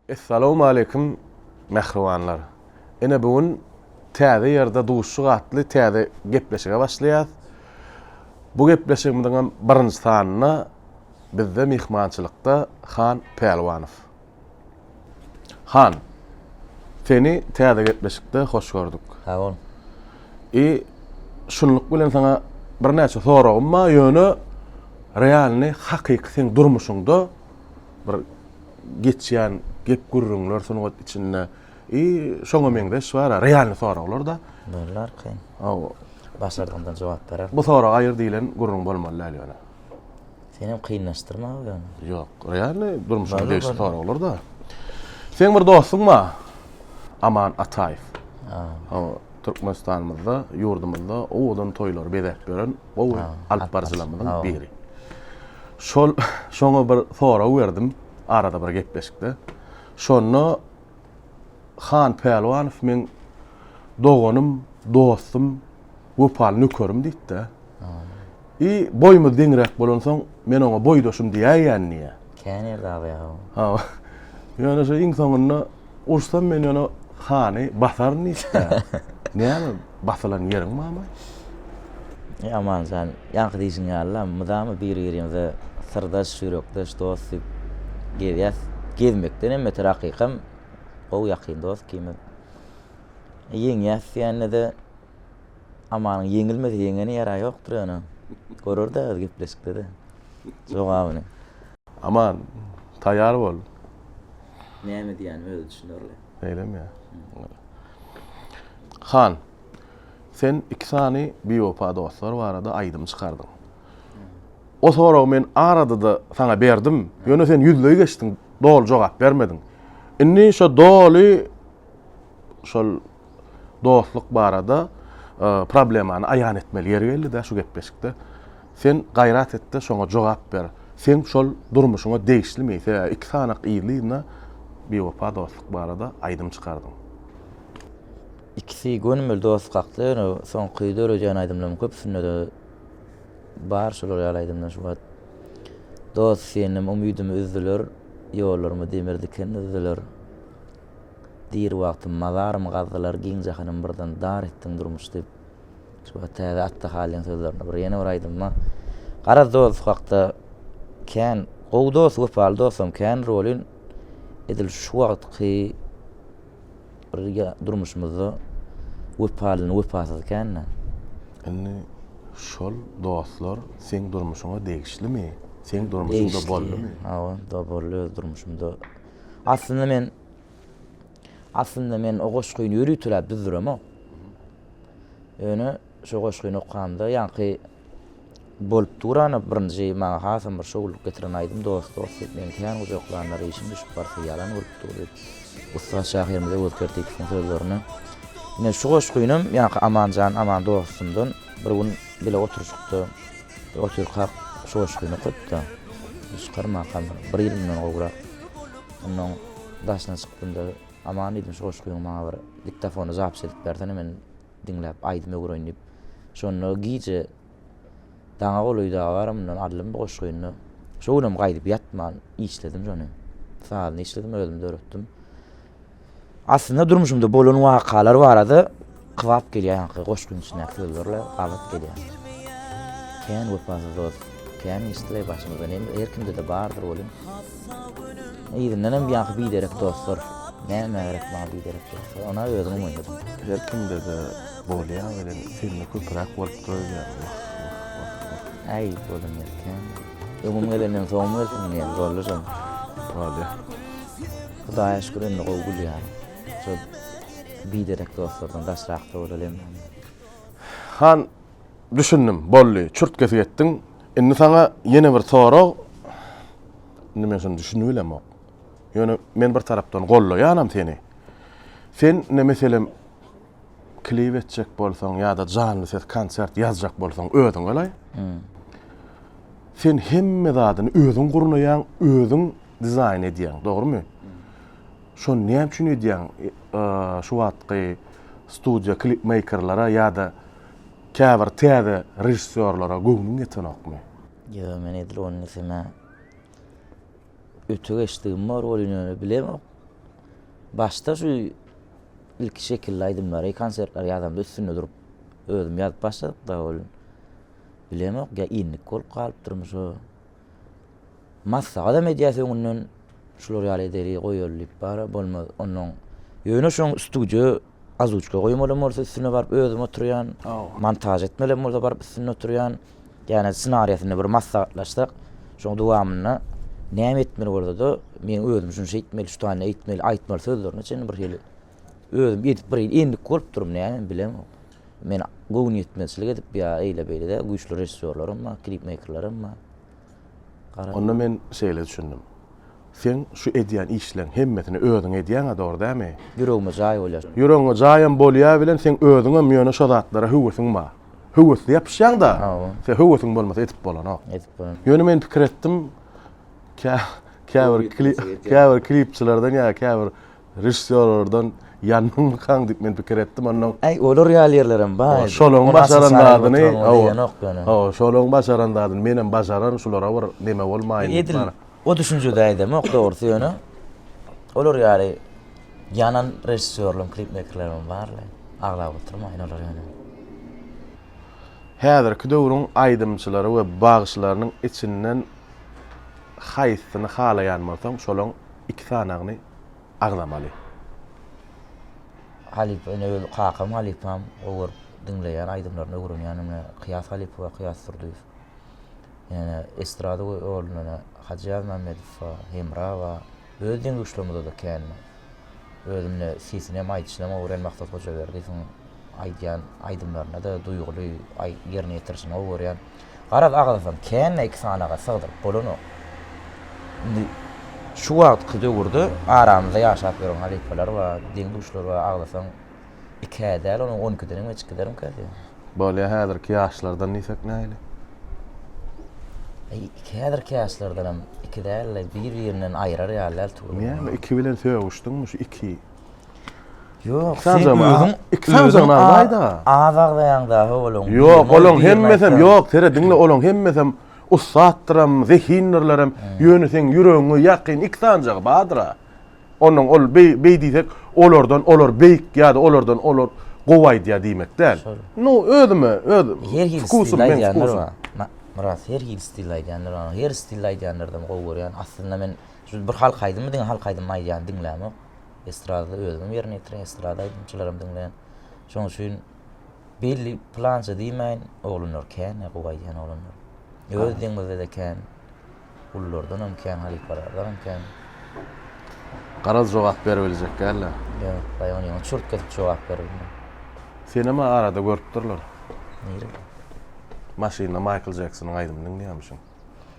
Essalawmaleýkim mähribanlar. Ine bu gün täze ýerde duşyk atly täze gepleşige başlaýas. Bu gepleşigimiziň hem birinji sanynda bizde myhmançylykda Han Pälwanow. Han, seni täze gepleşikde hoş gördük. Sag bol. I şunluk bilen saňa birnäçe soragym bar, ýöne realny hakyky seň durmuşyňda bir geçýän gep-gürrüňler sungat içinde i şoňa meňzeş bar-a realny soraglar-da. Bollar kyn. Hawa. Başardygyňdan jogap berer. Bu sorag aýyr diýlen gürrüň bolmaly däl ýöne. Senem kynlaşdyrma ýöne. Ýok, realny durmuşa degişli soraglar-da. Seň bir dostuň bar. Aman Ataýew. Hawa. Türkmenistanymyzda, ýurdumyzda owadan toýlary bezäp ýören gowy alypbaryjylarymyzyň biri. Şol şoňa bir sorag berdim arada bir gepleşikde. Şonda Han Pälwanow meň doganym, dostum, wepaly nökerim diýipdi. I boýumyz deňräk bolansoň, men oňa boýdaşym diýäýýän diýýä. Kän ýerde aga ýa-ha. Hawa. Ýöne şu iň soňunda ursa men ýöne hany basaryn diýipdir. Näme basylan ýeriň barmy? I Aman jan, ýaňky diýşiň ýaly-la, mydama biri-birimize syrdaş, ýürekdeş, dost diýip gezýäs. Gezmekden hem beter hakykam gowy ýakyn dost ikimiz. Ýeňýäs diýende-de. Amanyň ýeňilmese ýeňeni ýara ýokdur ýöne. Görer-dä öz gepleşikde-de jogabyny. Aman, taýýar bol. Näme diýýänim özi düşünerli. Beýlemi ýa? Han, sen iki sany biwepa dostlar barada aýdym çykardyň. O soragy men arada-da saňa berdim, ýöne sen ýüzleý geçdiň, doly jogap bermediň. Indi şo doly şol. Dostluk barada problemany aýan etmeli ýeri geldi-dä şu gepleşikde. Sen gaýrat et-de şoňa jogap ber. Seň şol durmuşyňa degişlimi? Sebäbi iki sanak yzly-yzyna biwepa dostluk barada aýdym çykardyň. Ikisi gönümel dost kakdy, ýöne soňky döredýän aýdymlaryň köpüsinde-de bar şolar ýaly aýdymlar şu wagt. Dost, senem umydymy üzdüler, ýollarymy demir diken düzdüler. Diri wagtym mazarym gazdylar giň jahanym birden dar etdiň durmuş diýip şu wagt täze atda halyň sözlerini bir ýene bir aýdymma garaz dost hakda kän gowy dost wepaly dostam kän rolin edil şu wagtky bir durmuşymyzda wepalyny wepasyzy kända. Indi şol dostlar seň durmuşyňa degişlimi seň durmuşyňda boldymy? Hawa boldy öz durmuşymda. Aslynda men Aslynda men o goşgyny ýörüp turäp düzdüremok. Ýöne şu goşgyny okanda ýaňky bolup duran birinji maňa hasam bir şowlulyk getiren aýdym Dost dost diýip meni kän gujaklanlar işim düşüp barsa ýalan bolup dur diýip ussat şahyrymyz Öwez Kertipowyň sözlerini ine şu goşgynam ýaňky Amanjan Aman dostumdan bir gün bile oturyşykda Otyrkak çoşgyny köp-de, çykarmakam bir ýyl mundan gowrak. Onnoň daşyna çykdym-da, Aman diýdim, çoşgyňy maňa bir diktafona zapis edip bersene, men diňläp, aýdym öwüreýin diýip. Şonda gije daňa golaý dagy bar, mundan aldym bu goşgyny-da. Şo günem gaýdyp ýatman işledim şony. Sazyny işledim, özüm döretdim. Aslynda durmuşymda bolan wakalar barada kybap gelýär ýaňky goşgyň içindäki sözlerle gabat gelýär. Kän wepasyz dost, kän işdile başymyzda näme her kimde-de bardyr welin. Yzyndan hem ýaňky biderek dostlar, näme gerek maňa biderek dostlar, ony özüňem oýnadym. Her kimde-de bolýar welin sende köpräk bolup durýar. Wah, wah, wah, wah. Äý, bolan ýeri kän. Öňüm gelenden soňum gelsin diýen, Gollujam. Bolýar. Hudaýa şükür indi gowy gülýärin. Şo biderek dostlardan daşrakda bolalyň indi. Han, düşündim, boldy, çürt-kesik etdiň. Indi saňa ýene bir sorag, indi men şuny düşünibilemok. Ýöne men bir tarapdan gollaýanam seni. Sen indi meselem klip etjek bolsaň ýa-da janly ses konsert ýazjak bolsaň özüň galaý. Sen hemme zadyny özüň gurnaýaň, özüň dizaýn edýäň, dogrumy? Şony näme üçin edýäň? Şu wagtky studiýa klipmeýkerlere ýa-da käbir täze režissýorlara göwnüň ýetenokmy? Ýa, men edil ony sene öte geçdigim bar welin öne bilemok. Başda şu ilki şekilli aýdymlary, konsertleri ýazamda üstünde durup, özüm ýazyp başladyk-da welin. Bilemok, ýa inlik bolup galypdyrmy şo? Massa gadam edýäs öňünden şular ýaly edeli goýaly diýip bara bolmaz onnoň ýöne şoň studiýa azuçka goýmalym bolsa üstüne baryp özüm oturýan montaž etmelem bolsa baryp üstünde oturýan ýane snariýasyny bir maslahatlaşsak şoň dowamynda näme etmeli bolsada men özüm şunça etmeli şu sany etmeli aýtmaly sözlerine çenli bir hili özüm edip bir endik bolup durym näme bilemok. Men göwnüýetmezçilik edip ýa eýle-beýle-de güýçli režissýorlarym bar, klipmeýkerlerim bar. Gara. Onda men şeýle düşündim. Seň şu edýän işleň hemmesini özüň edýäň-ä, dogry dämi? Ýüregime jaý bolýar. Ýüregiňe jaýam bolýar bilen seň özüňem ýöne şo zatlara höwesiň bar. Höwesli ýapyşýaň-da. Hawa. Seň höwesiň bolmasa edip bolanok. Edip bolanok. Ýöne men pikir etdim, kä, käbir, käbir klipçilerden ýa käbir Režissýorlardan ýandyňmykaň diýip men pikir etdim, onnoň. Äý, olar ýaly ýerlerem bar edi. Şolaryň başaran zadyny, hawa, şolaryň başaran zadyny menem başaran, şulara bir neme bolmaýyn diýip. Edil o düşünjede aýdamok dogrusy, ýöne olar ýaly ýanan režissýorlaryň, klipmeýkerleriň bar-la, aglap oturmaýyn olary ýöne. Häzirki döwrüň aýdymçylary we bagşylarynyň içinden haýsysyny halaýan bolsaň, şolaň iki sanagyny. agzamaly. Halypa ine öz kakam halypam gowy görüp diňleýän aýdymlaryny öwrenýän ine Kyýas halypowa Kyýas Durdyýew ine estrada ýolunda ine Hajy Ýazmämmedowa Hemrawa öz deň-duşlarymyzada kän özüm ine sesinem aýdyşynam gowy görýän Maksat Hojaberdiýewiň aýdýan aýdymlaryna-da duýguly ýerine ýetirişini gowy görýän. Garaz agzasam känme iki sanaga sygdyryp bolanok. Indi şu wagtky döwürde aramyzda ýaşap ýören halypalar bar, deň-duşlar bar, agzasaň iki-ä däl, onuň on ikiden hem geçip giderimkä diýýän. Bolýa häzirki ýaşlardan diýsek nähili? Aý iki häzirki ýaşlardanam iki däl-de, bir-birinden aýrar ýaly däl tugury. Näme iki bilen sögüşdiňmi şu iki? Ýok, sen özüň iki sanyny aýda. Az agzaýaň da howluň. Ýok, olaň hemmesem ýok, sere diňle olaň hemmesem ussatdyram, zehindirlerim. Ýöne seň ýüregiňe ýakyn iki sanyjagy bardyra. Onuň ol beý diýsek, olardan olar beýik ýa-da olardan olar gowy aýdýar diýmek däl. Nu özüme öz wkusym men wkusym. Myrat, her hili stilde aýdýanlar bar. Her stilde aýdýanlardan gowy görýän. Aslynda men Şu bir halk aýdymy diňe halk aýdymyny aýdýan diňlämok. Estradada özümem ýerine ýetirýän, estrada aýdymçylaram diňleýän. Şoň üçin belli plança diýmäýin, oglanlar kän, gowy aýdýan oglanlar. Öz deňimizde-de kän. Gullardan hem kän, halypalardan hem kän. Garaz jogap beribiljek däl-le. Ýok, baý ony ýaňy çürt kesip jogap beribine. Senema arada görüpdirler. Nirede? Maşynda Maýkl Jeksonyň aýdymyny diňleýärmişiň.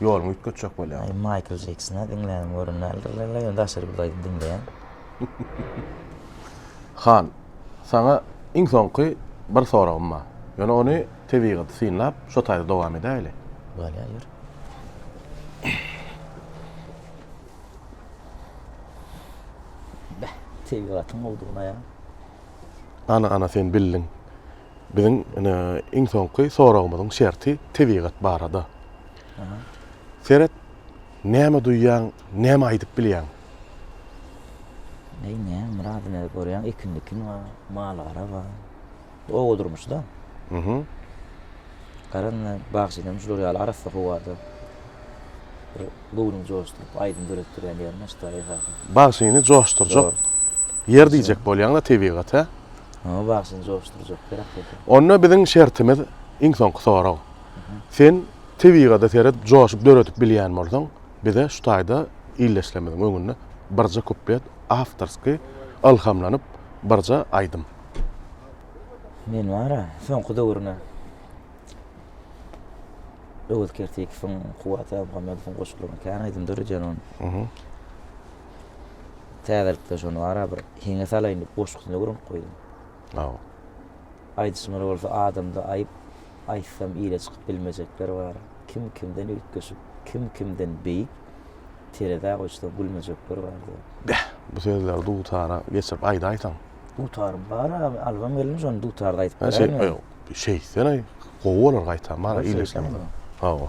Ýoluňy üýtgetjek bolýaň. Aý Maýkl Jeksona diňlänim orun däldir wella ýöne daşary bir zaýdy diňleýän. Han, saňa iň soňky bir soragym bar. Ýöne ony tebigaty synlap, şo taýda dowam edäýeli. Bolýar, ýör. Beh, tebigatyň gowudygyna ýa. Ana, ana sen bildiň. Biziň ine iň soňky soragymyzyň şerti tebigat barada. Seret, näme duýýaň, näme aýdyp bilýäň? Neý näme Myrat ine görýäň ekin-dikin bar, mal-gara bar. Oba durmuşy-da. Gara ine bagşy hem şular ýaly arassa howada bir göwnüňi joşduryp, aýdym döretdirýän ýermiş-de esasy. Bagşyny joşdurjak ýer diýjek bolýaň-da tebigat, hä? Oňa bagşyny joşdurjak gerek bolsa. Onda biziň şertimiz, iň soňky sorag. Sen tebigada seret joşup döredip bilýän bolsaň, bize şu taýda ildeşlerimiziň öňünde birje kuplet awtorsky ylhamlanyp birje aýdym. Men bar-a, soňky döwrüne Öwez Kertikowyň, Kuwwat Annamuhammedowyň goşgularyny kän aýdym döredýän ony. Täzelikde şony ara bir heňe salaýyn diýip goşgusyny öwrenip goýdum. Aw. Aýdyşymyz bolsa adamda aýyp aýtsam ile çykyp bilmejekler bar. Kim kimden üýtgeşik, kim kimden beýik terezä goýsaň gülmejekler bar diýen. Beh, bu sözleri dutara geçirip aýdaýsaň. Dutarym bar awy, albam gelmez ony dutarda aýdyp beräýiň men. Ýok, şeýtseň-aý, gowy bolar gaýtam bar-a, ileşseň-de. Hawa.